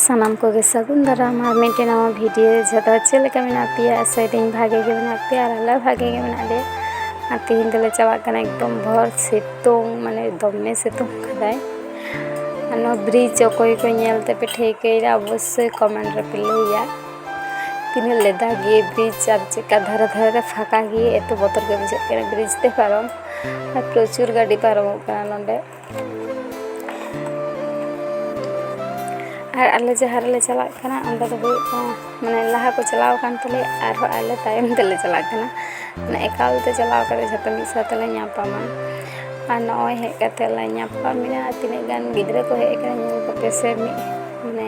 ᱥᱟᱱᱟᱢ ᱠᱚᱜᱮ ᱥᱟᱹᱜᱩᱱ ᱫᱟᱨᱟᱢ ᱟᱨ ᱢᱤᱫᱴᱮᱱ ᱱᱟᱣᱟ ᱵᱷᱤᱰᱤᱭᱳ ᱡᱚᱛᱚ ᱪᱮᱫ ᱞᱮᱠᱟ ᱢᱮᱱᱟᱜ ᱯᱮᱭᱟ ᱟᱥᱟᱭᱫᱟᱹᱧ ᱵᱷᱟᱜᱮ ᱜᱮ ᱢᱮᱱᱟᱜ ᱯᱮᱭᱟ ᱟᱨ ᱟᱞᱮ ᱵᱷᱟᱜᱮ ᱜᱮ ᱢᱮᱱᱟᱜ ᱞᱮᱭᱟ ᱟᱨ ᱛᱮᱦᱮᱧ ᱫᱚᱞᱮ ᱪᱟᱞᱟᱜ ᱠᱟᱱᱟ ᱮᱠᱫᱚᱢ ᱵᱷᱚᱨ ᱥᱤᱛᱩᱝ ᱢᱟᱱᱮ ᱫᱚᱢᱮ ᱥᱤᱛᱩᱝ ᱠᱟᱫᱟᱭ ᱟᱨ ᱱᱚᱣᱟ ᱵᱨᱤᱡᱽ ᱚᱠᱚᱭ ᱠᱚ ᱧᱮᱞ ᱛᱮᱯᱮ ᱴᱷᱟᱹᱣᱠᱟᱹᱭᱮᱫᱟ ᱚᱵᱚᱥᱥᱳᱭ ᱠᱚᱢᱮᱱᱴ ᱨᱮᱯᱮ ᱞᱟᱹᱭᱟ ᱛᱤᱱᱟᱹᱜ ᱞᱮᱫᱟ ᱜᱮ ᱵᱨᱤᱡᱽ ᱟᱨ ᱪᱮᱫᱠᱟ ᱫᱷᱟᱨᱮ ᱫᱷᱟᱨᱮ ᱨᱮ ᱯᱷᱟᱸᱠᱟ ᱜᱮ ᱮᱛᱚ ᱵᱚᱛᱚᱨ ᱜᱮ ᱵᱩᱡᱷᱟᱹᱜ ᱠᱟᱱᱟ ᱵᱨᱤᱡᱽ ᱛᱮ ᱯᱟᱨᱚᱢ ᱟᱨ ᱯᱨᱚᱪᱩᱨ ᱜᱟᱹᱰᱤ ᱯᱟᱨᱚᱢᱚᱜ ᱠᱟᱱᱟ ᱱᱚᱸᱰᱮ ᱟᱨ ᱟᱞᱮ ᱡᱟᱦᱟᱸ ᱨᱮᱞᱮ ᱪᱟᱞᱟᱜ ᱠᱟᱱᱟ ᱚᱸᱰᱮ ᱫᱚ ᱦᱩᱭᱩᱜ ᱠᱟᱱᱟ ᱢᱟᱱᱮ ᱞᱟᱦᱟ ᱠᱚ ᱪᱟᱞᱟᱣ ᱟᱠᱟᱱ ᱛᱟᱞᱮᱭᱟ ᱟᱨᱦᱚᱸ ᱟᱞᱮ ᱛᱟᱭᱚᱢ ᱛᱮᱞᱮ ᱪᱟᱞᱟᱜ ᱠᱟᱱᱟ ᱢᱟᱱᱮ ᱮᱠᱟᱞ ᱛᱮ ᱪᱟᱞᱟᱣ ᱠᱟᱛᱮ ᱡᱷᱚᱛᱚ ᱢᱤᱫ ᱥᱟᱶ ᱛᱮᱞᱮ ᱧᱟᱯᱟᱢᱟ ᱟᱨ ᱱᱚᱜᱼᱚᱭ ᱦᱮᱡ ᱠᱟᱛᱮ ᱞᱮ ᱧᱟᱯᱟᱢᱮᱱᱟ ᱛᱤᱱᱟᱹᱜ ᱜᱟᱱ ᱜᱤᱫᱽᱨᱟᱹ ᱠᱚ ᱦᱮᱡ ᱟᱠᱟᱱᱟ ᱧᱮᱞ ᱠᱚᱯᱮ ᱥᱮ ᱢᱤᱫ ᱢᱟᱱᱮ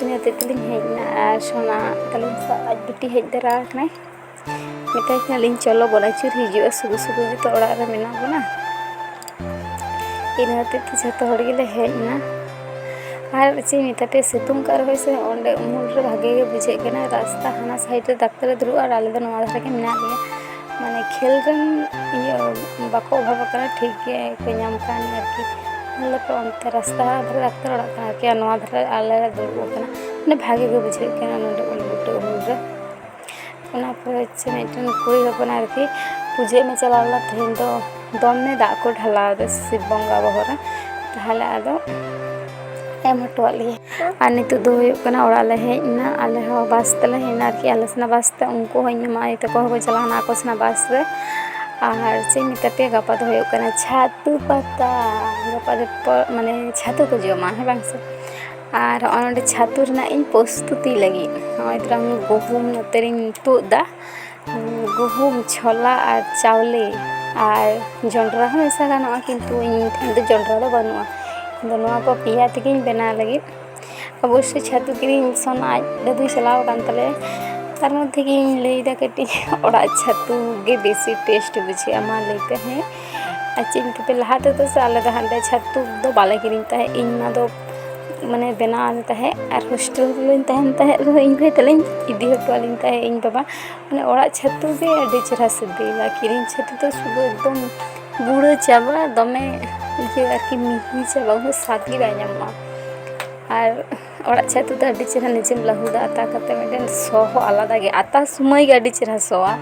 ᱤᱱᱟᱹ ᱦᱚᱛᱮᱡ ᱛᱮᱞᱤᱧ ᱦᱮᱡ ᱮᱱᱟ ᱟᱨ ᱥᱚᱱᱟ ᱛᱟᱹᱞᱤᱧ ᱥᱟᱶ ᱟᱡ ᱵᱤᱴᱤ ᱦᱮᱡ ᱛᱚᱨᱟ ᱟᱠᱟᱱᱟᱭ ᱢᱮᱛᱟᱭ ᱠᱟᱱᱟᱞᱤᱧ ᱪᱚᱞᱚ ᱵᱚᱱ ᱟᱹᱪᱩᱨ ᱦᱤᱡᱩᱜᱼᱟ ᱥᱩᱫᱩ ᱥᱩᱫᱩ ᱜᱮᱛᱚ ᱚᱲᱟᱜ ᱨᱮ ᱢᱮᱱᱟᱜ ᱵᱚᱱᱟ ᱤᱱᱟᱹ ᱦᱚᱛᱮᱡ ᱛᱮ ᱡᱷᱚᱛᱚ ᱦᱚᱲ ᱜᱮᱞᱮ ᱦᱮᱡ ᱮᱱᱟ ᱟᱨ ᱪᱮᱫ ᱤᱧ ᱢᱮᱛᱟ ᱯᱮᱭᱟ ᱥᱤᱛᱩᱝ ᱠᱟᱜ ᱨᱮᱦᱚᱸᱭ ᱥᱮ ᱚᱸᱰᱮ ᱩᱢᱩᱞ ᱨᱮ ᱵᱷᱟᱜᱮ ᱜᱮ ᱵᱩᱡᱷᱟᱹᱜ ᱠᱟᱱᱟ ᱨᱟᱥᱛᱟ ᱦᱟᱱᱟ ᱥᱟᱭᱤᱰ ᱨᱮ ᱰᱟᱠᱛᱟᱨᱮ ᱫᱩᱲᱩᱵᱼᱟ ᱟᱨ ᱟᱞᱮ ᱫᱚ ᱱᱚᱣᱟ ᱫᱷᱟᱨᱮ ᱜᱮ ᱢᱮᱱᱟᱜ ᱞᱮᱭᱟ ᱢᱟᱱᱮ ᱠᱷᱮᱞ ᱨᱮᱱ ᱤᱭᱟᱹ ᱵᱟᱠᱚ ᱚᱵᱷᱟᱵ ᱟᱠᱟᱱᱟ ᱴᱷᱤᱠ ᱜᱮᱠᱚ ᱧᱟᱢ ᱠᱟᱱ ᱟᱨᱠᱤ ᱟᱞᱮ ᱫᱚ ᱚᱱᱛᱮ ᱨᱟᱥᱛᱟ ᱫᱷᱟᱨᱮ ᱰᱟᱠᱛᱟᱨ ᱚᱲᱟᱜ ᱠᱟᱱᱟ ᱟᱨᱠᱤ ᱱᱚᱣᱟ ᱫᱷᱟᱨᱮ ᱟᱞᱮ ᱞᱮ ᱫᱩᱲᱩᱵ ᱟᱠᱟᱱᱟ ᱢᱟᱱᱮ ᱵᱷᱟᱜᱮ ᱜᱮ ᱵᱩᱡᱷᱟᱹᱜ ᱠᱟᱱᱟ ᱱᱚᱰᱮ ᱩᱞ ᱵᱩᱴᱟᱹ ᱩᱢᱩᱞ ᱨᱮ ᱚᱱᱟ ᱯᱚᱨᱮ ᱪᱮ ᱢᱤᱫᱴᱮᱱ ᱠᱩᱲᱤ ᱦᱚᱯᱚᱱ ᱟᱨᱠᱤ ᱯᱩᱡᱟᱹ ᱮᱢᱮ ᱪᱟᱞᱟᱣ ᱞᱮᱱᱟ ᱛᱮᱦᱮᱧ ᱫᱚ ᱫᱚᱢᱮ ᱫᱟᱜ ᱠᱚ ᱰᱷᱟᱞᱟᱣ ᱟᱫᱟ ᱥᱤᱵ ᱵᱚᱸᱜᱟ ᱵᱚᱦᱚᱜ ᱨᱮ ᱛᱟᱦᱚᱞᱮ ᱟᱫᱚ ᱮᱢ ᱦᱚᱴᱚᱣᱟᱫ ᱞᱮᱭᱟ ᱟᱨ ᱱᱤᱛᱚᱜ ᱫᱚ ᱦᱩᱭᱩᱜ ᱠᱟᱱᱟ ᱚᱲᱟᱜ ᱞᱮ ᱦᱮᱡ ᱮᱱᱟ ᱟᱞᱮ ᱦᱚᱸ ᱵᱟᱥ ᱛᱮᱞᱮ ᱦᱮᱡ ᱮᱱᱟ ᱟᱨᱠᱤ ᱟᱞᱮ ᱥᱮᱱᱟᱜ ᱵᱟᱥ ᱛᱮ ᱩᱱᱠᱩ ᱦᱚᱸ ᱤᱧ ᱢᱟᱢᱟ ᱟᱭᱳ ᱛᱟᱠᱚ ᱦᱚᱸᱠᱚ ᱪᱟᱞᱟᱣᱱᱟ ᱟᱠᱚ ᱥᱮᱱᱟᱜ ᱵᱟᱥ ᱨᱮ ᱟᱨ ᱪᱮᱫ ᱤᱧ ᱢᱮᱛᱟ ᱯᱮᱭᱟ ᱜᱟᱯᱟ ᱫᱚ ᱦᱩᱭᱩᱜ ᱠᱟᱱᱟ ᱪᱷᱟᱹᱛᱩ ᱯᱟᱛᱟ ᱜᱟᱯᱟ ᱫᱚ ᱢᱟᱱᱮ ᱪᱷᱟᱹᱛᱩ ᱠᱚ ᱡᱚᱢᱟ ᱦᱮᱸ ᱵᱟᱝ ᱥᱮ ᱟᱨ ᱦᱚᱸᱜᱼᱚᱭ ᱱᱚᱰᱮ ᱪᱷᱟᱹᱛᱩ ᱨᱮᱱᱟᱜ ᱤᱧ ᱯᱨᱚᱥᱛᱩᱛᱤ ᱞᱟᱹᱜᱤᱫ ᱱᱚᱜᱼᱚᱭ ᱛᱚᱨᱟᱝ ᱜᱩᱦᱩᱢ ᱱᱚᱛᱮ ᱨᱤᱧ ᱛᱩᱫ ᱮᱫᱟ ᱜᱩᱦᱩᱢ ᱪᱷᱚᱞᱟ ᱟᱨ ᱪᱟᱣᱞᱮ ᱟᱨ ᱡᱚᱱᱰᱨᱟ ᱦᱚᱸ ᱢᱮᱥᱟ ᱜᱟᱱᱚᱜᱼᱟ ᱠᱤᱱᱛᱩ ᱤᱧ ᱴᱷᱮᱱ ᱫᱚ ᱡᱚᱱᱰᱨᱟ ᱫᱚ ᱵᱟᱹᱱᱩᱜᱼᱟ ᱤᱧᱫᱚ ᱱᱚᱣᱟ ᱠᱚ ᱯᱮᱭᱟ ᱛᱮᱜᱮᱧ ᱵᱮᱱᱟᱣ ᱞᱟᱹᱜᱤᱫ ᱚᱵᱚᱥᱥᱳᱭ ᱪᱷᱟᱹᱛᱩ ᱠᱤᱨᱤᱧ ᱢᱤᱥᱚᱱ ᱟᱡ ᱫᱟᱹᱫᱩᱭ ᱪᱟᱞᱟᱣ ᱟᱠᱟᱱ ᱛᱟᱞᱮᱭᱟ ᱛᱟᱨ ᱢᱚᱫᱽᱫᱷᱮ ᱜᱮ ᱤᱧ ᱞᱟᱹᱭᱫᱟ ᱠᱟᱹᱴᱤᱡ ᱚᱲᱟᱜ ᱪᱷᱟᱹᱛᱩ ᱜᱮ ᱵᱮᱥᱤ ᱴᱮᱥᱴ ᱵᱩᱡᱷᱟᱹᱜᱼᱟ ᱢᱟ ᱞᱟᱹᱭ ᱯᱮ ᱦᱮᱸ ᱟᱨ ᱪᱮᱫ ᱤᱧ ᱞᱟᱹᱭ ᱟᱯᱮᱭᱟ ᱞᱟᱦᱟ ᱛᱮᱫᱚ ᱥᱮ ᱟᱞᱮ ᱫᱚ ᱦᱟᱸᱰᱮ ᱪᱷᱟᱹᱛᱩ ᱫᱚ ᱵᱟᱞᱮ ᱠᱤᱨᱤᱧ ᱛᱟᱦᱮᱸᱫ ᱤᱧ ᱢᱟ ᱫᱚ ᱢᱟᱱᱮ ᱵᱮᱱᱟᱣ ᱟᱫᱮ ᱛᱟᱦᱮᱸᱫ ᱟᱨ ᱦᱳᱥᱴᱮᱞ ᱨᱮᱞᱤᱧ ᱛᱟᱦᱮᱱ ᱛᱟᱦᱮᱸᱫ ᱨᱮᱦᱚᱸ ᱤᱧ ᱵᱷᱟᱹᱭ ᱛᱟᱹᱞᱤᱧ ᱤᱫᱤ ᱦᱚᱴᱚ ᱟᱹᱞᱤᱧ ᱛᱟᱦᱮᱸᱫ ᱤᱧ ᱵᱟᱵᱟ ᱢᱟᱱᱮ ᱚᱲᱟᱜ ᱪᱷᱟᱹᱛᱩ ᱜᱮ ᱟᱹᱰᱤ ᱪᱮᱦᱨᱟ ᱥᱤᱵᱤᱞᱟ ᱠᱤᱨᱤᱧ ᱪᱷᱟᱹᱛᱩ ᱫᱚ ᱥᱩᱫᱩ ᱮᱠᱫᱚᱢ ᱜᱩᱲᱟᱹ ᱪᱟᱵᱟ ᱫᱚᱢᱮ ᱤᱭᱟᱹ ᱟᱨᱠᱤ ᱢᱤᱦᱤ ᱪᱟᱵᱟ ᱩᱱᱟᱹᱜ ᱥᱟᱫ ᱜᱮ ᱵᱟᱭ ᱧᱟᱢᱚᱜᱼᱟ ᱟᱨ ᱚᱲᱟᱜ ᱪᱷᱟᱹᱛᱩ ᱫᱚ ᱟᱹᱰᱤ ᱪᱮᱦᱨᱟ ᱱᱤᱡᱮᱢ ᱞᱟᱹᱦᱩᱫᱟ ᱟᱛᱟ ᱠᱟᱛᱮᱫ ᱢᱤᱫᱴᱮᱱ ᱥᱚ ᱦᱚᱸ ᱟᱞᱟᱫᱟ ᱜᱮᱭᱟ ᱟᱛᱟ ᱥᱚᱢᱚᱭ ᱜᱮ ᱟᱹᱰᱤ ᱪᱮᱦᱨᱟ ᱥᱚᱣᱟ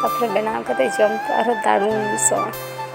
ᱛᱟᱨᱯᱚᱨᱮ ᱵᱮᱱᱟᱣ ᱠᱟᱛᱮᱫ ᱡᱚᱢ ᱛᱚ ᱟᱨᱦᱚᱸ ᱫᱟᱨᱩᱱ ᱥᱚᱣᱟ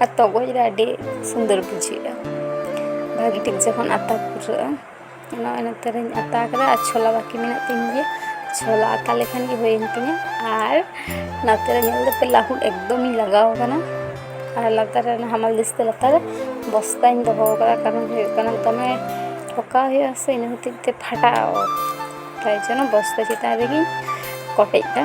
ᱟᱨ ᱛᱚᱜᱚᱡ ᱨᱮ ᱟᱹᱰᱤ ᱥᱩᱱᱫᱚᱨ ᱵᱩᱡᱷᱟᱹᱜᱼᱟ ᱵᱷᱟᱹᱜᱤ ᱴᱷᱤᱠ ᱡᱚᱠᱷᱚᱱ ᱟᱛᱟ ᱯᱩᱨᱟᱹᱜᱼᱟ ᱚᱱᱟ ᱚᱱᱟᱛᱮ ᱨᱤᱧ ᱟᱛᱟ ᱠᱮᱫᱟ ᱟᱨ ᱪᱷᱚᱞᱟ ᱵᱟᱹᱠᱤ ᱢᱮᱱᱟᱜ ᱛᱤᱧ ᱜᱮᱭᱟ ᱪᱷᱚᱞᱟ ᱟᱛᱟ ᱞᱮᱠᱷᱟᱱ ᱜᱮ ᱦᱩᱭᱮᱱ ᱛᱤᱧᱟ ᱟᱨ ᱱᱟᱛᱮ ᱨᱮ ᱧᱮᱞ ᱫᱟᱯᱮ ᱞᱟᱹᱦᱩᱫ ᱮᱠᱫᱚᱢᱤᱧ ᱞᱟᱜᱟᱣ ᱠᱟᱱᱟ ᱟᱨ ᱞᱟᱛᱟᱨ ᱨᱮ ᱦᱟᱢᱟᱞ ᱫᱤᱥᱛᱮ ᱞᱟᱛᱟᱨ ᱨᱮ ᱵᱚᱥᱛᱟᱧ ᱫᱚᱦᱚ ᱠᱟᱫᱟ ᱠᱟᱨᱚᱱ ᱦᱩᱭᱩᱜ ᱠᱟᱱᱟ ᱫᱚᱢᱮ ᱴᱷᱚᱠᱟᱣ ᱦᱩᱭᱩᱜᱼᱟ ᱥᱮ ᱤᱱᱟᱹ ᱦᱚᱛᱮᱡ ᱛᱮ ᱯᱷᱟᱴᱟᱜᱼᱟ ᱚᱛ ᱛᱟᱭ ᱡᱚᱱᱱᱚ ᱵᱚᱥᱛᱟ ᱪᱮᱛᱟᱱ ᱨᱮᱜᱮᱧ ᱠᱚᱴᱮᱡ ᱫᱟ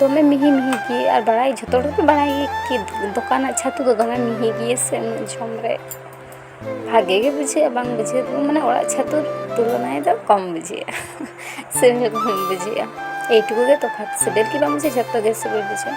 ᱫᱚᱢᱮ ᱢᱤᱦᱤ ᱢᱤᱦᱤ ᱜᱮ ᱟᱨ ᱵᱟᱲᱟᱭ ᱡᱷᱚᱛᱚ ᱦᱚᱲ ᱜᱮ ᱵᱟᱲᱟᱭ ᱜᱮ ᱠᱤ ᱫᱚᱠᱟᱱᱟᱜ ᱪᱷᱟᱹᱛᱩ ᱫᱚ ᱫᱚᱢᱮ ᱢᱤᱦᱤ ᱜᱮᱭᱟ ᱥᱮ ᱩᱱᱟᱹᱜ ᱡᱚᱢ ᱨᱮ ᱵᱷᱟᱜᱮ ᱜᱮ ᱵᱩᱡᱷᱟᱹᱜᱼᱟ ᱵᱟᱝ ᱵᱩᱡᱷᱟᱹᱜ ᱫᱚ ᱢᱟᱱᱮ ᱚᱲᱟᱜ ᱪᱷᱟᱹᱛᱩ ᱛᱩᱞᱚᱱᱟᱭ ᱫᱚ ᱠᱚᱢ ᱵᱩᱡᱷᱟᱹᱜᱼᱟ ᱥᱮ ᱠᱚᱢ ᱵᱩᱡᱷᱟᱹᱜᱼᱟ ᱮᱭᱴᱩᱠᱩ ᱜᱮ ᱛᱚᱯᱷᱟᱛ ᱥᱤᱵᱤᱞ ᱜᱮ ᱵᱟᱝ ᱵᱩᱡᱷᱟᱹᱜᱼᱟ ᱡᱷᱚᱛᱚ ᱜᱮ ᱥᱤᱵᱤᱞ ᱵᱩᱡᱷᱟᱹᱜᱼᱟ